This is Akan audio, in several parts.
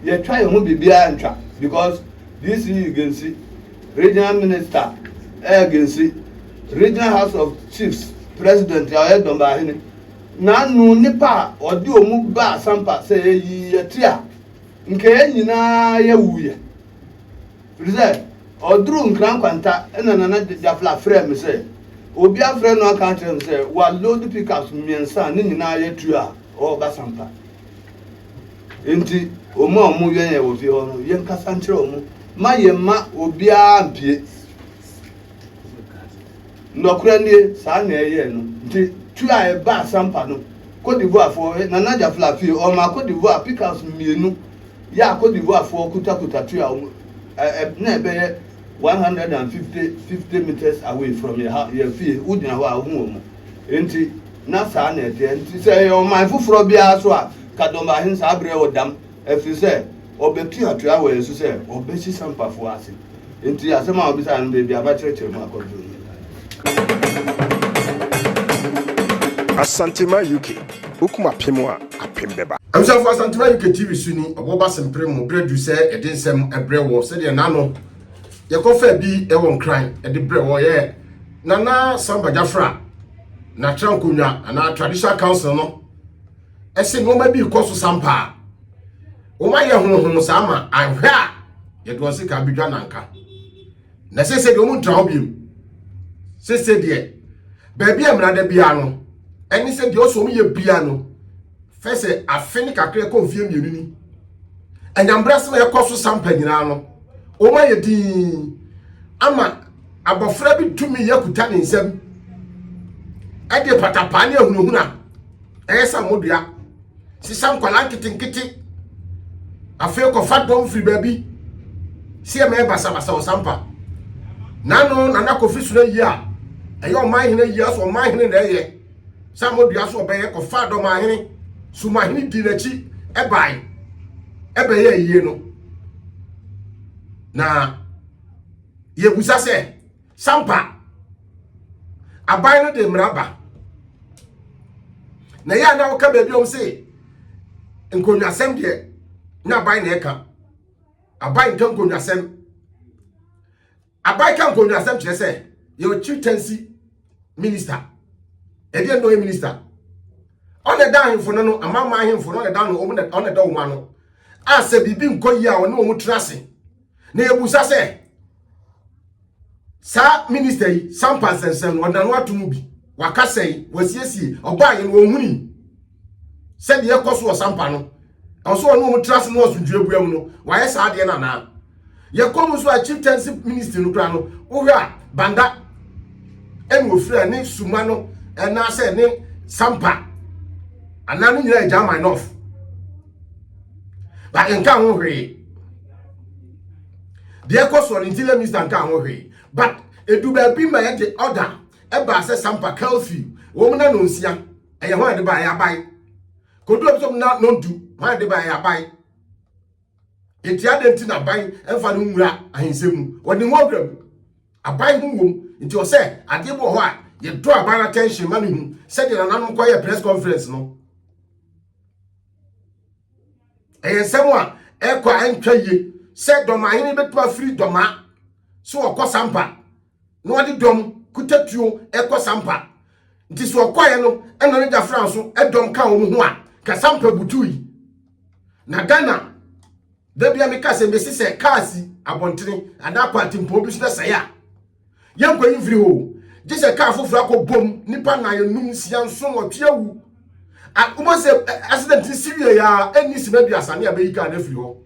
Yɛtwa yɛn ho biribiara ntwa because DC Gensi Regional Minister ɛyɛ Gensi Regional House of Chiefs President a ɔyɛ Dɔmbahene n'ano nipa a ɔde wɔn ba Asampa sɛ yɛyi yɛ ti a nka yɛn nyinaa yɛwu yɛ firi sɛ ɔduru Nkran Nkwanta ɛna Nana Gyafla frɛ me sɛ obi afrɛ no aka akyerɛ me sɛ wa load pickups mmiɛnsa a ne nyinaa yɛtu a ɔreba Asampa. Enti wɔn a wɔwɛn yɛn wɔ fie hɔ no, yɛnkasa nkyerɛ wɔn ma yɛmma obiara mpue. Nɔkorɛ nie, saa na ɛyɛɛ no. Nti tu a ɛba asampa no, Cote d'Ivoirefoɔ, Nana Adja Flafie, ɔmaa Cote d'Ivoire pickups mmienu yɛ a Cote d'Ivoirefoɔ kutakuta tu a wɔn na ɛbɛyɛ 150 meters away from yɛ fie, wogyina hɔ a wohu wɔn. Enti na saa na ɛteɛ. Nti sɛ ɛyɛ ɔman foforɔ biara so a, Kadɔmbahen saa berɛ wɔ dam, ɛfiri sɛ ɔbɛtu atua wɔ yɛn so sɛ ɔbɛsi Sampafoɔ ase. Enti asɛm a ɔbisaeɛ no, baabi a makyerɛkyerɛ mu akɔ duru no. Asantema UK, Wokum apem a, apem bɛba. Abusuafo Asantema UK TV so ni ɔbɔ ba sempere mo berɛ duru sɛ yɛde nsɛm brɛ wɔ sɛdeɛ nano yɛkɔ faa bi wɔ nkran de brɛ wɔ yɛ Nana Samba Gyafra n'atra nkonnwa anaa traditional council no ɛsɛ nneɛma bi kɔ so sampaa wɔn ayɛ honhom saa ma anhwɛ a yɛde wɔn sika abɛdwa nanka na sese deɛ wɔn ntra ho biem sese deɛ baabi a mmerada biara no ɛne sɛ deɛ ɔsɔ wɔn yɛ biara no fɛ sɛ afe ne kakra kɔ mfie mmienu ni anyambrasɛm a ɛkɔ so sampa nyinaa no wɔn ayɛ dii ama Abɔfra bi tumi yɛ kuta ne nsam ɛde patapaa ne ahunahuna ɛyɛ sɛ modua sisa nkwala nketenkete afei kɔfa dɔm firi baabi si ɛmɛ basabasa ɔsampa nano nana kofi soro yi a ɛyɛ ɔman hene yi aso ɔman hene na ɛyɛ sɛ modua so ɔbɛyɛ kɔfa dɔm ahene sumahene di n'akyi ɛbae ɛbɛyɛ ayie no na Yɛbusa sɛ, sampa aban no de mmara ba? Na yɛ a na woka baabi ɔm se nkonnwasɛm deɛ na aban na ɛka. Aban nka nkonnwasɛm. Aban ka nkonnwasɛm kyerɛ sɛ yɛwɔ chieftaincy minister. Ɛdeɛ nnɔyɛ minister. Ɔna ɛda ahemfo no no, amama ahemfo no ɔna ɛda no, ɔna ɛda wɔn ano. A sɛ biribi nkɔ yie a ɔne wɔn tra ase. na yɛbusa sɛ saa minista yi sampa nsɛnsɛm no ɔda no ato mu bi wakasa yi wasiesie ɔbaa yɛ no ɔhuni sɛdeɛ ɛkɔ so wɔ sampa no ɛwɔ so ɔno ɔmo tra ase no asomdwoe bua mu no wayɛ saa adeɛ no anaa yɛkɔ mu nso a chieftaincy ministry no koraa no wohwɛ a banda ɛna ofira ne suma no ɛnaasɛ ne sampa anaa no nyinaa yɛ german off but nka ho hwee deɛ ɛkɔ soɔ no nti lɛ mista nka ho hwee but edu baabi ma yɛde ɔda ɛbaa sɛ sampa kalfi wɔn na nonsia ɛyɛ hɔn de ba ɛyɛ aban kodu ebi sɔm na nondu hɔn de ba ɛyɛ aban eti adi nti na aban ɛnfa no nwura ahinsɛm mu wɔde ho awura mu aban ho wɔm nti ɔsɛ adeɛ bi wɔ hɔ a yɛdɔ aban attention ma ne hu sɛdeɛ nananom kɔyɛ press conference no ɛyɛ nsɛm a ɛkɔ a ɛntwa yie sɛ dɔmahene bɛtumi afiri dɔma sɛ wɔkɔ sampa na wɔde dɔm kutatuo ɛkɔ sampa nti sɛ ɔkɔeɛ no ɛna ne gyafra nso ɛdɔm ka wɔn ho a ka sampa butu yi na ghana dabia meka sɛ mesi sɛ kaa si abɔntene anaa kwantempɔn bi so na sɛe a Yɛnkɔ yi mfiri hɔ o. Gye sɛ kaa foforɔ akɔ bom, nnipa nnan, nnum, nsia, nson, nwɔtwe awu. A, wobɛhu sɛ accident no si wie ya a, ɛnni sima aduasa ne abɛyi kaa no afiri hɔ.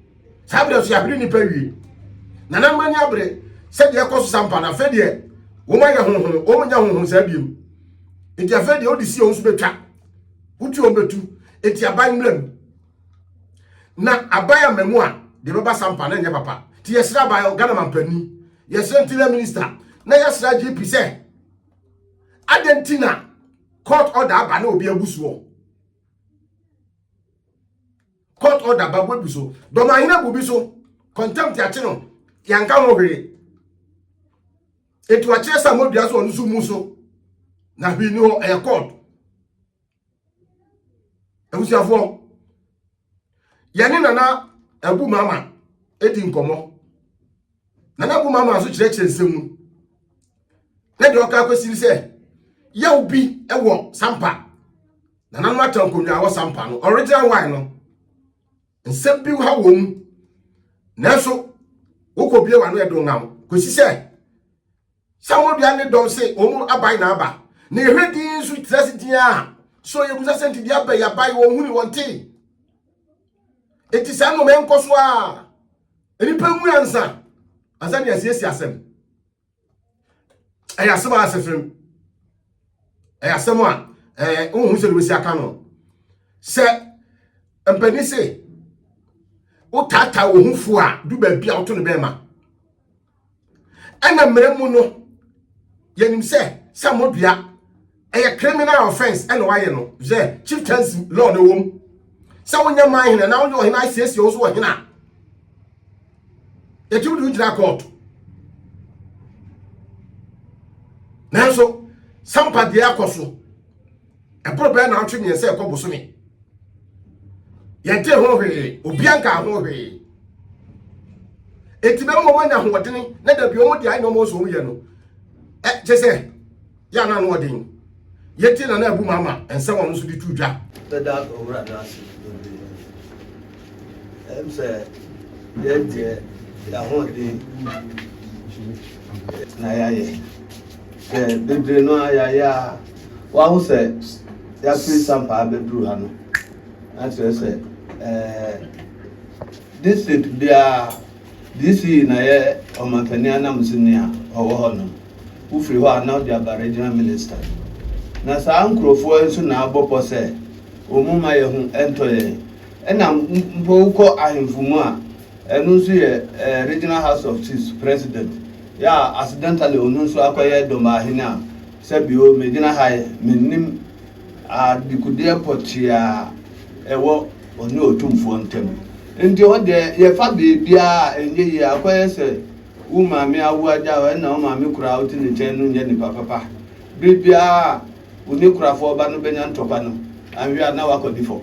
Saa berɛ nso yɛahwere nnipa awie. Nananom ani abere sɛ deɛ ɛkɔ so sa mpa no, afei deɛ wɔn ayɛ honhom, wɔn nyɛ honhom saa biom. Nti afei deɛ wode si wɔn so bɛtwa, wotwi wɔn bɛtu, nti aban mmra mu. na aban a mmamu a deɛ bɛba sampa na ɛnyɛ papa nti yɛsrɛ aban hɔ ghana mampanin yɛsrɛ ntina minista na yɛsrɛ gp sɛ adɛn nti na court order aba na obi abu soɔ court order aba bu abu so dɔm ahene abu bi so contempt akye no yɛnka ho hwee ɛti wakyerɛ sɛ modua so ɔno so mu so na hwee ni hɔ ɛyɛ court abusuafoɔ yɛne nana abu mama ɛdi nkɔmmɔ nana abu mama nso kyerɛkyerɛ nsɛm mu na deɛ ɔka akɔsiri sɛ yaw bi wɔ sampa nananom ata nkonnwa wɔ sampa no original wine no Nsɛm bi ha wɔ mu, nanso wokɔbie w'ano ɛdo nna wo kɔsi sɛ sɛ wɔdua ne dɔm se wɔn aban na aba na yɛhwɛ din nso tira se din a so yɛbusa sɛ nti deɛ aba yɛabae wɔn huni wɔn te ɛti saa nnoɔma ɛnkɔ so a nnipa mu ansa ansa ne asiesie asɛm ɛyɛ asɛm a asefem ɛyɛ asɛm a ɛɛ wohu sɛ wobɛsi aka no sɛ mpanin se wotaataa wo ho fo a du baabi a woto no bɛrima ɛna mmerɛ mu no yɛnim sɛ sɛ modua ɛyɛ criminal offence ɛna wayɛ no sɛ chieftaincy law no wɔm sɛ wonyɛ man hene na wonyɛ ɔhene asiesie wo so ɔhene a yɛtumi de wogyina court nanso sampa deɛ akɔ so ɛboro bɛɛ na ntwe mmiɛnsa ɛkɔ bosome yɛnte ho hwee obia nka ho hwee ɛti bɛma ɔmanya hoɔdene na dabi ɔmɔde ayɛ na ɔmɔ sɛ ɔmyɛ no kyɛ sɛ yɛ na ano ɔden yɛ tie na na abu mu ama nsɛm ɔno nso de tu dwa. bɛda owura no ase bebree ɛm sɛ yɛn deɛ yɛahoɔden na yɛayɛ sɛ bebree no a yɛayɛ a waho sɛ yɛafiri sampaa bɛduru ha no na kyerɛ sɛ district biara DC na yɛ ɔmanpanin ananmusini a ɔwɔ hɔ no. Wofiri hɔ a na wode aba Regional Minister. Na saa nkurofoɔ yi nso na abɔ pɔ sɛ wɔn mma yɛ ho ntɔ yɛn. Ɛna mpo wokɔ ahemfo mu a, ɛno nso yɛ Regional House of Chiefs President. Yɛ a accidentally ɔno nso akɔyɛ Dɔmbahene a, sɛ bi o, megyina ha yi, mennim adekudeɛ pɔtee a ɛwɔ. ɔne Otumfoɔ ntam. Enti hɔ deɛ, yɛfa baabiara a, ɛnyɛ yie. Akɔyɛ sɛ wo maame awo agya wo, ɛnna wo maame koro a wote ne nkyɛn no nyɛ nipa papa. Bere biara a wo ne kurafoɔ ba no bɛnya ntɔkwa no, anhwɛ a na woakɔdi fam.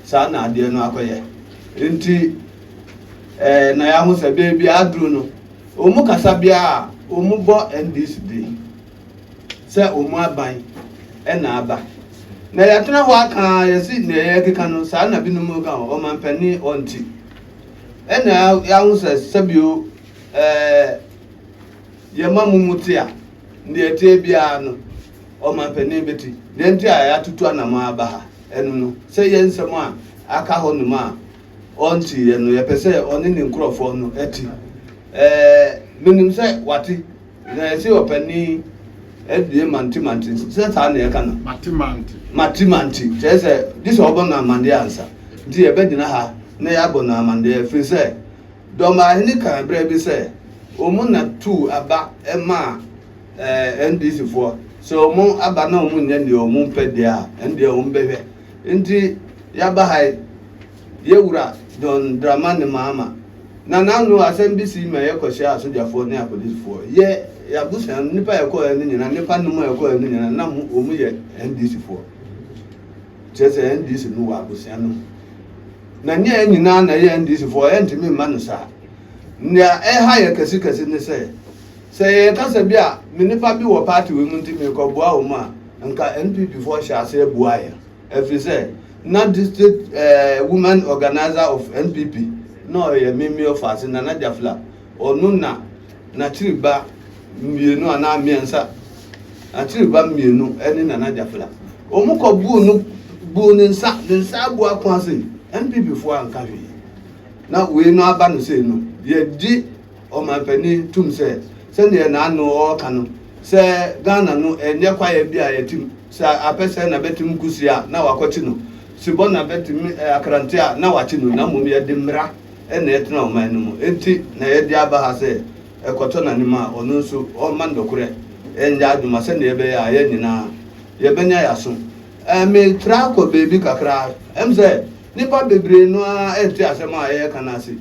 Saa na adeɛ no akɔyɛ. Enti eh, na yɛaho sɛ baabiara aduru no, wɔn kasa biara a, wɔbɔ NDC din. sɛ wɔn aban na aba. Na yɛatena hɔ aka a yɛsi nea yɛkeka no saa na binom ka ho ɔmampanin ɔnti. Ɛna yɛaho sɛ sɛbio ɛɛ yɛma mo mu te a nea ɛteɛ biara no ɔmampanin bɛti. Deɛ nti a yɛatutu anamɔ aba ha ɛno no sɛ yɛn nsɛm a aka hɔ nom a ɔnti yɛ no yɛpɛ sɛ ɔne ne nkurɔfoɔ no ti. Ɛɛ menim sɛ wate. Na ɛse ɔpanin abue mantemante, sɛ saa na yɛka no? Matemante. Matemante, kyerɛ sɛ gye sɛ ɔbɔ no amanneɛ ansa. Nti yɛbɛgyina ha na yɛabɔ no amanneɛ, ɛfiri sɛ Dɔmbaahene kaa berɛ bi sɛ wɔn na tuu aba maa eh, NDC foɔ. Sɛ wɔn aba na wɔn nyɛ deɛ wɔn pɛ deɛ a, ɛndeɛ wɔn bɛhwɛ. Nti yɛaba ha yi. Yɛ Wura John Dramani Mahama na n'ano asɛm bi sii ma yɛ kɔhyiaa asogyafoɔ ne apolisifoɔ. Yɛ, yɛ abusua, nnipa a yɛkɔɔɛ no nyinaa, nnipa nnum a yɛkɔɔɛ no nyinaa, na mo, wɔn yɛ NDCfoɔ. Kyerɛ sɛ NDC no wɔ abusua no mu. Na nyɛ yɛ nyinaa na yɛ NDCfoɔ, yɛntumi mma no saa. Nea ɛha yɛ kɛse kɛse ne sɛ, sɛ yɛyɛ kasa bi a, me nnipa bi wɔ party wei mu nti merekɔboa wɔn a, nka NPPfoɔ hyɛ aseɛ bua yɛn. Ɛfiri sɛ na district eh, woman organiser of NPP na ɔyɛ me me ɔfaase Nana Jafla. Ɔno na n'akyiri ba mmienu anaa mmiɛnsa, n'akyiri ba mmienu ne Nana Jafla. Wɔn kɔ buu no buu ne nsa, ne nsa abu ako ase. NPP foɔ anka hwee. Na wei no aba no sei no, yɛgye ɔmanpanin tum sɛ, sɛdeɛ n'ano ɔɔka no, sɛ Ghana no ɛnyɛ kwaeɛ bi a yɛtim, sɛ apɛ sɛ na bɛtim Kusi a na wakɔkye no, se bɔ na bɛtim Akrante a na wakye no, na mmom yɛde mmara na ɛtena ɔman no mu, enti na yɛde aba ha sɛ ɛkɔtɔ n'anim a ɔno nso ɔmma nnɔkorɛ nyɛ adwuma sɛdeɛ ɛbɛyɛ a yɛn nyinaa yɛbɛnya yɛn aso. Ɛɛ metra kɔ baabi kakra, ɛm sɛ nnipa bebree no ara nte asɛm a yɛreka no ase.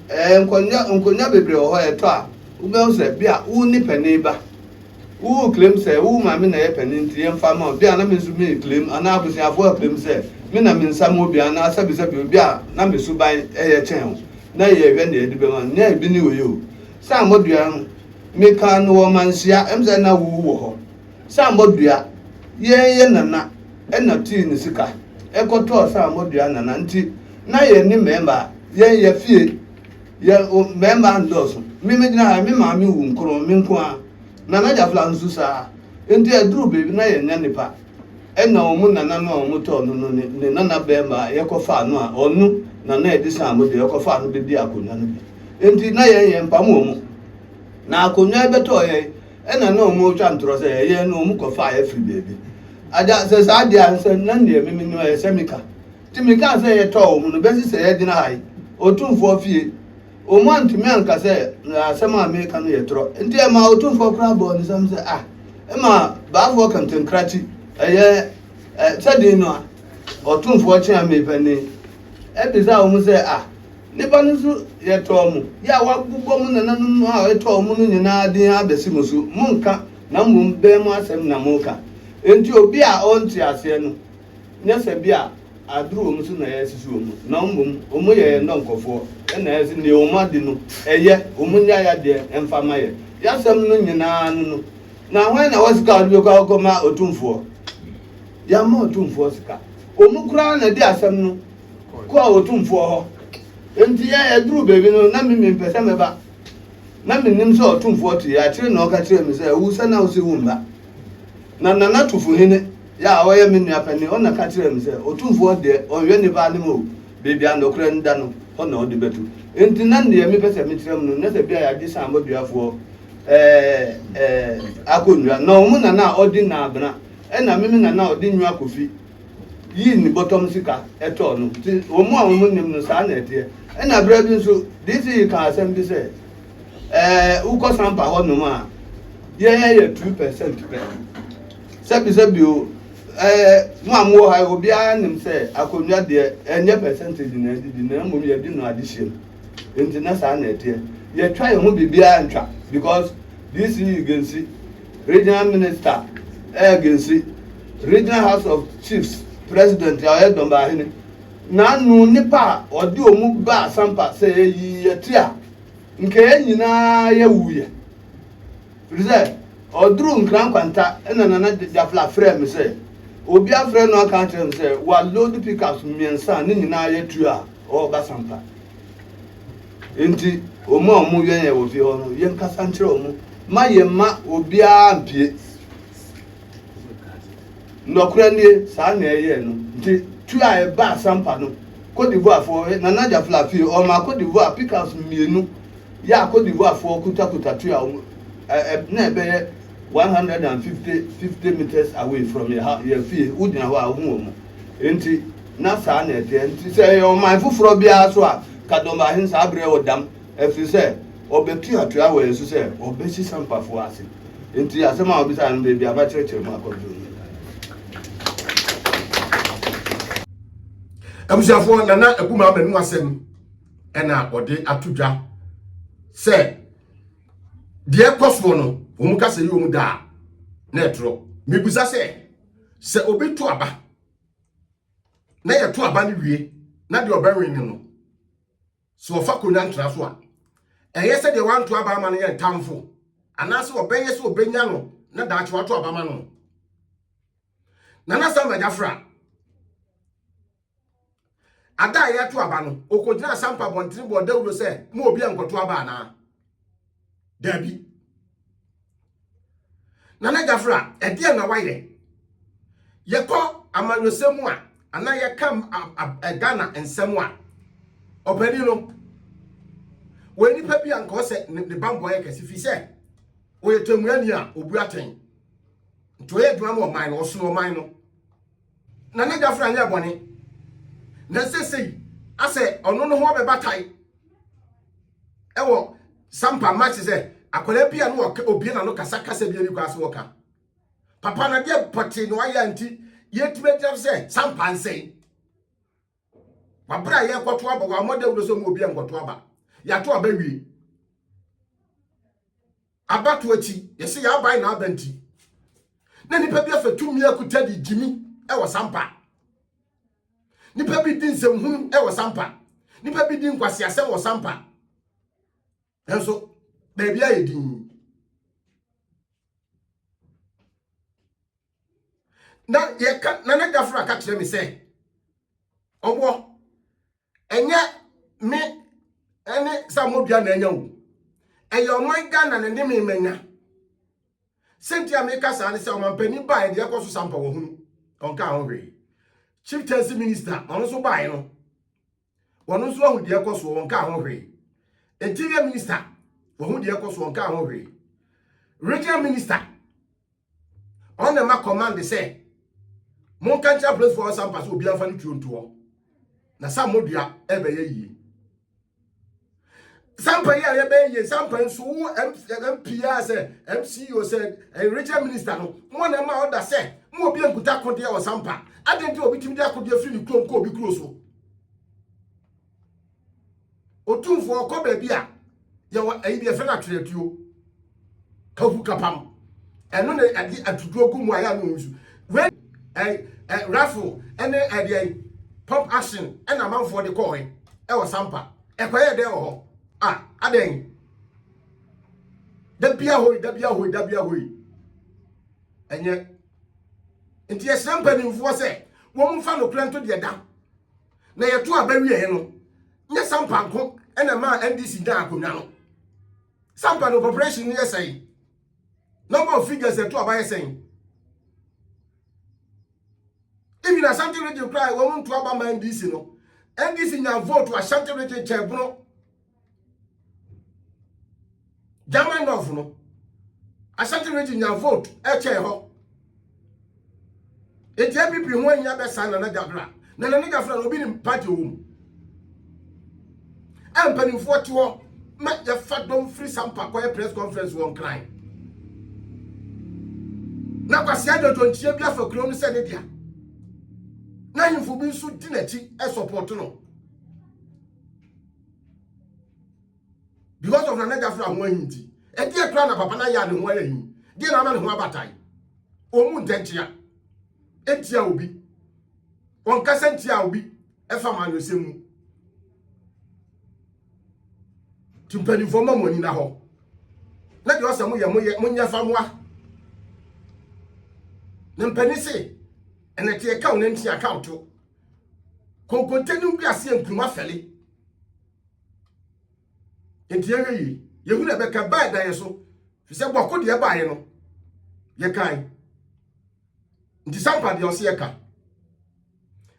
Ɛɛ, nkonnwa, nkonnwa bebree wɔ hɔ a, ɛtɔ a wobɛhu sɛ bia wo ne panin ba. Wo claim sɛ wo maame na ɛyɛ panin nti yɛmfa ma wo. Bia na me nso me claim anaa abusuafoɔ a claim sɛ me na me nsa mu bi anaa sɛbi sɛbi obi a na me suban ɛyɛ kyɛn wo na yɛhwɛ nea yɛde bɛma no. Nea ebi ne wei o. Sɛ ammɔdua no, me kaa no wɔ manhyia, ɛm sɛ na wo wɔ hɔ. Sammɔ dua yɛn yɛ nana ɛna tii ne sika ɛkɔ tɔɔ sammɔ dua nana nti na yɛn ne mɛɛma yɛn yɛ fie yɛ o mɛɛma ndɔɔso me me gyina ha me maame wu nkron me nko ara nana gyafla nso saa nti ɛduru baabi na yɛn nya nipa ɛna ɔmo nana no a ɔmo tɔɔ no no ne ne nana bɛɛma a yɛkɔ faa no a ɔno nana ɛde sammɔ dua ɛkɔ faa no bɛ di akonnwa no bi nti na yɛn yɛn mpam ɔmo na akonnwa ɛbɛ tɔɔ yɛn. Ɛna na ɔmo twa ntorɔ sɛ ɛyɛ na ɔmo kɔ faeɛ firi baabi. Agya, sɛ saa deɛ a, nsɛ na neɛ meme no ɛsɛ me ka. Nti me kaa sɛ yɛ tɔɔ ɔmo no bɛsi sɛ yɛ gyina ha yi, Otumfoɔ fie. Ɔmo antumi anka sɛ asɛm a meka no yɛ torɔ. Nti ɛmaa Otumfoɔ koraa bɔɔ ne sam sɛ ah, ɛma baafoɔ kankankra ti ɛyɛ eh, sɛ den no a, Otumfoɔ kyeame panin. Ɛbisaa ɔmo sɛ ah, Nnipa no nso yɛtɔɔ mo, yɛ a wɔabobɔ mo nananom a ɛtɔɔ mo no nyinaa din abɛsi mo so. Monnka, na mmom bɛn mo asɛm na moreka. Enti obi a ɔnte aseɛ no, nyɛ sɛ bi a aduru wɔn so na yɛresisi wɔn, na mmom wɔn yɛ yɛn dɔnkɔfoɔ, ɛna ɛse deɛ wɔn adi no, ɛyɛ, wɔn nya yadeɛ mfa mma yɛn. Y'asɛm no nyinaa ano no, na hwan na ɔwɔ sika a ɔde bɛkɔ akɔma otumfoɔ? Yɛamma otumfoɔ sika. Wɔn koraa na di asɛm no. kɔɔ ɔtumfoɔ hɔ. Enti ɛduruu baabi no, na me mempɛ sɛ mɛba. Na menim sɛ ɔtumfoɔ tee akyire na ɔka kyerɛɛ me sɛ, Wu sɛ na wose woremma. Na Nana Tufuhene yɛ a ɔyɛ me nua panin, ɔna ka kyerɛɛ me sɛ, Ɔtumfoɔ deɛ, ɔnhwɛ nnipa anem o, baabi a nokorɛ no da no, hɔ na ɔde bɛtu. Enti na deɛ mepɛ sɛ mekyerɛ mo no, na sɛ bi a yɛagye Saanbɔduafoɔ akonnwa, na wɔn Nana a ɔdi Naabena, ɛna me me Nana a ɔdi Nwakofi, yii ne bɔtɔm sika tɔɔ no. Nti wɔn a wɔnnim no, saa na ɛteɛ. Ɛnna berɛ bi nso, DCE kaa asɛm bi sɛ, ɛɛ wokɔ Sampa hɔnom a, yɛn yɛ two percent pɛ. Sɛbisɛbi o, ɛɛ mo a mowɔ ha yi, obiara nim sɛ akonnwa deɛ ɛnyɛ percentage na ɛde di, na mmom yɛde no adehyeɛ mu. Nti na saa na ɛteɛ. Yɛtwa yɛn ho biribiara ntwa because DCE gansi Regional Minister Erg Nsi, Regional House of Chiefs President a ɔyɛ Dɔmbahene, na ano nnipa a wɔde wɔn ba Asampa sɛ eyi yɛ te a, nka yɛn nyinaa yɛwuiɛ. Firi sɛ, ɔduruu Nkran Nkwanta na Nana Gyafla frɛɛ me sɛ obi afrɛ no aka akyerɛ no sɛ wɔaload pickups mmiɛnsa a ne nyinaa yɛ tuo a wɔreba Asampa. Enti wɔn a wɔwɛn yɛn wɔ fie hɔ no, yɛnkasa nkyerɛ wɔn ma yɛmma obiara mpue. Nɔkorɛ nie, saa na ɛyɛɛ no. Nti tu a ɛba asampa no, Cote d'Ivoirefoɔ, Nana Gyafla fie, ɔma Cote d'Ivoire pickups mmienu yɛ a Cote d'Ivoirefoɔ kutakuta tu a wɔn na ɛbɛyɛ 150 meters away from yɛ fie, wogyina hɔ a wohu wɔn. Enti na saa na ɛteɛ. Enti sɛ ɛyɛ ɔman foforɔ biara so a, Kadɔmbahen saa berɛ wɔ dam, ɛfiri sɛ ɔbɛtuatua wɔ yɛn so sɛ ɔbɛsi Sampafoɔ ase. Enti asɛm a ɔbisaeɛ no, baabi a makyerɛkyerɛ mu akɔ nso nie. Abusuafoɔ, Nana Aguma Amanu asɛm ɛna ɔde ato dwa sɛ deɛ ɛkɔ soɔ no, wɔn ka sɛ yɛ wɔn da a, na ɛtorɔ. Mebusa sɛ, sɛ obi to aba na yɛto aba no wie na deɛ ɔbɛwe no no sɛ ɔfa konya ntra so a ɛyɛ sɛ deɛ wanto aba ama no yɛ ntamfo anaasɛ ɔbɛyɛ sɛ ɔbɛnya no na daakye wato aba ma no nana sam agyafra Ada a yɛto aba no, okogyina asampa abɔntene bɔɔ dawuro sɛ, mo obi a nkɔto aba anaa? Daabi. Nana Gyafra, ɛdeɛ na wayɛ? Yɛkɔ amanyɔsɛm mu a, anaa yɛka Ghana nsɛm a, ɔpanin no, wɔyɛ nipa bi a nka ɔsɛ ne bambɔ yɛ kɛse fi sɛ ɔyɛ tɛmuani a obu atɛn nti ɔyɛ adwuma ma ɔman no ɔsono ɔman no Na n'adwafo na nyɛɛ bɔne, na seesei asɛ ɔno no ho ɔbɛba tae ɛwɔ sampa match sɛ akwadaa bi a no ɔka obie na no kasa kasa bi ani kɔ ase wɔka papa na deɛ pɔte na wayɛ nti yɛtumi agyina sɛ sampa nsɛe wabra yɛ kɔto aba wɔ amɔda wuro sɛ mu obi a nkɔto aba yɛato aba wie Abatoɔ akyi, yɛse yɛabae na aba nti na nipa bi afa tumi akuta de gyimi ɛwɔ sampa. Nipa bi di nsɛmhunu ɛwɔ sampa. Nipa bi di nkwaseasɛm wɔ sampa. Nanso baabi ayɛ din. na yɛka nana dafra ka kyerɛ me sɛ ɔboɔ ɛnyɛ me ɛne sɛ modua na anya o ɛyɛ ɔman ghana na ne me manya sɛnti a meka saa ne sɛ ɔmampani baa ɛde ɛkɔ so sampa wɔ hunu ɔnka ho hwee chieftaincy minister ɔno nso baeɛ no wɔn nso ahu deɛ ɛkɔ soɔ wɔnka ho hwee interior minister wɔho deɛ ɛkɔ soɔ nka ho hwee regional minister ɔna ma command sɛ monka nkyerɛ apolisifoɔ wɔ sampa sɛ obiara mfa ne tuo ntoɔ na sa mmɔdua ɛbɛyɛ yie sampa yi a yɛbɛyɛ yie sampa yi nso wo mpia sɛ mco sɛ eh, regional minister no mo na ma ɔda sɛ mo obi nkuta akodeɛ wɔ sampa adɛn nti obi tumi de akodeɛ firi ne kurom kɔ obi kuro so Otumfoɔ ɔkɔ baabi a yɛwɔ ayi bi yɛfrɛ no atwerɛtuo kahu kapam ɛno na ɛde atutuo gu mu a yɛ a na ɔnsu wei ɛ ɛ raffle ɛne ɛdeɛ pump action ɛna amanfoɔ de kɔɔe ɛwɔ sampa ɛkɔyɛ dɛn wɔ hɔ a adɛn da bia hoi da bia hoi da bia hoi ɛnyɛ nti yɛhyerɛ mpanimfoɔ sɛ wɔn mfa nokorɛ nto deɛ da Na yɛto aba wieɛ no, nyɛ Sampa nko na ɛmaa NDC nyaa akonnwa no. Sampa no population no yɛ sɛn? Number of figures yɛto aba yɛ sɛn? Even Ashanti region koraa wɔn nto aba ma NDC no. NDC nya vote wɔ Ashanti region kyɛɛ bono. german north no asante region nya vote ɛkyɛn hɔ nti app ho ahia bɛsa nana gyafra na nana gyafra no obi ne party wɔ mu a mpanimfoɔ te hɔ ma yɛfa dɔm firi sampa kɔyɛ press conference wɔ nkran na kwasia dwodwo nkyia bi afa kuro no sɛ ne dea na ahemfo bi nso di n'akyi ɛsɔpɔto no because of nana gyafra ho ahi nti ɛdeɛ kora na papa no ayɛ a ne ho ayɛ hi deɛ na ama ne ho abatae ɔmu ntɛnkyea ntia obi ɔnkasa ntia obi ɛfa ma anyɔsɛm mu nti mpanimfoɔ ma mo ani na hɔ na deɛ ɔsɛ moyɛ moyɛ monyɛ fa moa na mpanin se ɛnɛteɛ ka wo nanti aka wo to Konkonte ne wiase yɛ nkuruma fɛle. Nti yɛhwɛ yie. Yɛhu na ɛbɛka baa ɛda yɛ so. Fi sɛ bɔko deɛ ɛbaeɛ no, yɛkae. Nti sampa deɛ ɔse yɛka.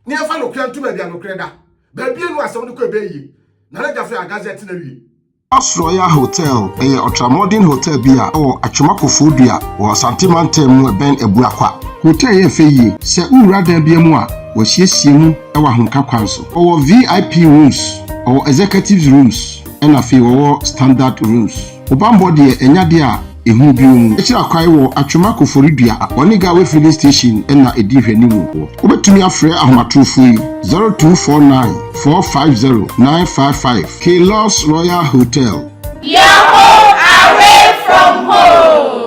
Ne yɛmfa nokorɛ nto baabi a nokorɛ da. Baabi enu asɛm no kɔ ɛbɛyie. Na na gyafo yɛ agazɛte na wie. Palace Royal Hotel yɛ ɔtramɔden hotɛl bi a ɛwɔ Atwom Akofoɔdua wɔ Asante Mantam mu ɛbɛn Abuakwa. Hotɛl yɛ fɛ yie. Sɛ wo wura dan bia mu a, wɔasiesie mu wɔ ahomka kwan so. Wɔwɔ VIP rooms, wɔwɔ executives rooms ɛna afei wɔwɔ standard rooms. Wo banbɔ deɛ ɛnyɛ adeɛ a. Ehu bio mu kyerɛ kwae wɔ Atwema Koforidua Onigawe Filling Station na edi nhwɛanim wɔ hɔ. Wobetumi afrɛ ahomatorofo yi, 0249 450 955, K-Lux Royal Hotel. Your home away from home.